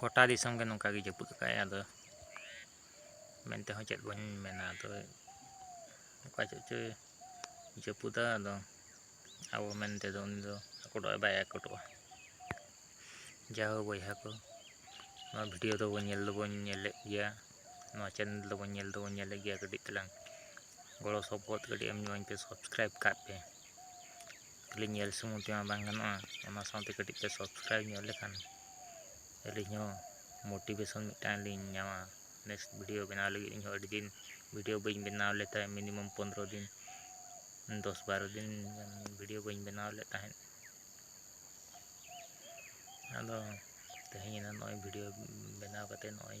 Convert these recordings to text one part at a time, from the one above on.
ᱜᱚᱴᱟ ᱫᱤᱥᱚᱢ ᱜᱮ ᱱᱚᱝᱠᱟ ᱜᱮ ᱡᱟᱹᱯᱩᱫ ᱟᱠᱟᱫ ᱟᱭ ᱟᱫᱚ ᱢᱮᱱ ᱛᱮᱦᱚᱸ ᱪᱮᱫ ᱵᱟᱹᱧ ᱢᱮᱱᱟ ᱟᱫᱚ ᱚᱠᱟ ᱪᱮᱫ ᱪᱚᱭ ᱡᱟᱹᱯᱩᱫᱟ ᱟᱫᱚ ᱟᱵᱚ ᱢᱮᱱ ᱛᱮᱫᱚ ᱩᱱᱤ ᱫᱚ ᱟᱠᱚᱴᱚᱜ ᱟᱭ ᱵᱟᱭ ᱟᱠᱚᱴᱚᱜᱼᱟ ᱡᱟᱦᱳ ᱵᱚᱭᱦᱟ ᱠᱚ ᱱᱚᱣᱟ ᱵᱷᱤᱰᱤᱭᱳ ᱫᱚᱵᱚᱱ ᱧᱮᱞ ᱫᱚᱵᱚᱱ ᱧᱮᱞᱮᱫ ᱜᱮᱭᱟ ᱱᱚᱣᱟ ᱪᱮᱱᱮᱞ ᱫᱚᱵᱚᱱ ᱧᱮᱞ ᱫᱚᱵᱚᱱ ᱧᱮᱞᱮᱫ ᱜᱮᱭᱟ ᱠᱟᱹᱴᱤᱡ ᱛᱟᱞᱟᱝ ᱜᱚᱲᱚ ᱥᱚᱯᱚᱦᱚᱫ ᱠᱟᱹᱴᱤᱡ ᱮᱢ ᱧᱚᱜ ᱟᱹᱧ ᱯᱮ ᱥᱟᱵᱥᱠᱨᱟᱭᱤᱵᱽ ᱠᱟᱜ ᱯᱮ ᱠᱷᱟᱹᱞᱤ ᱧᱮᱞ ᱥᱩᱢᱩᱝ ᱛᱮᱢᱟ ᱵᱟᱝ ᱜᱟᱱᱚᱜᱼᱟ ᱚᱱᱟ ᱥᱟᱶᱛᱮ ᱠᱟᱹᱴᱤᱡ ᱯᱮ ᱥᱟᱵᱥᱠᱨᱟᱭᱤᱵᱽ ᱧᱚᱜ ᱞᱮᱠᱷᱟᱱ ᱟᱹᱞᱤᱧ ᱦᱚᱸ ᱢᱳᱴᱤᱵᱷᱮᱥᱚᱱ ᱢᱤᱫᱴᱟᱝ ᱞᱤᱧ ᱧᱟᱢᱟ ᱱᱮᱠᱥᱴ ᱵᱷᱤᱰᱤᱭᱳ ᱵᱮᱱᱟᱣ ᱞᱟᱹᱜᱤᱫ ᱤᱧ ᱦᱚᱸ ᱟᱹᱰᱤ ᱫᱤᱱ ᱵᱷᱤᱰᱤᱭᱳ ᱵᱟᱹᱧ ᱵᱮᱱᱟᱣ ᱞᱮᱫ ᱛᱟᱦᱮᱸᱫ ᱢᱤᱱᱤᱢᱟᱢ ᱯᱚᱱᱨᱚ ᱫᱤᱱ ᱫᱚᱥ ᱵᱟᱨᱚ ᱫᱤᱱ ᱜᱟᱱ ᱵᱷᱤᱰᱤᱭᱳ ᱵᱟᱹᱧ ᱵᱮᱱᱟᱣ ᱞᱮᱫ ᱛᱟᱦᱮᱸᱫ ᱟᱫᱚ ᱛᱮᱦᱮᱧ ᱮᱱᱟ ᱱᱚᱜᱼᱚᱭ ᱵᱷᱤᱰᱤᱭᱳ ᱵᱮᱱᱟᱣ ᱠᱟᱛᱮᱫ ᱱᱚᱜᱼᱚᱭ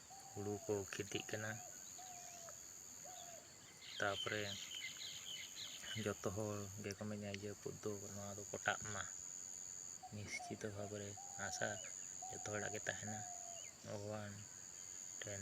ᱦᱩᱲᱩ ᱠᱚ ᱠᱷᱮᱛᱤᱜ ᱠᱟᱱᱟ ᱛᱟᱯᱚᱨᱮ ᱡᱚᱛᱚ ᱦᱚᱲ ᱜᱮᱠᱚ ᱢᱮᱱᱟ ᱡᱟᱹᱯᱩᱫ ᱫᱚ ᱱᱚᱣᱟ ᱫᱚ ᱠᱚᱴᱟᱜ ᱢᱟ ᱱᱤᱥᱪᱤᱛᱚ ᱵᱷᱟᱵᱮ ᱨᱮ ᱟᱥᱟ ᱡᱚᱛᱚ ᱦᱚᱲᱟᱜ ᱜᱮ ᱛᱟᱦᱮᱱᱟ ᱵᱷᱚᱜᱚᱵᱟᱱ ᱴᱷᱮᱱ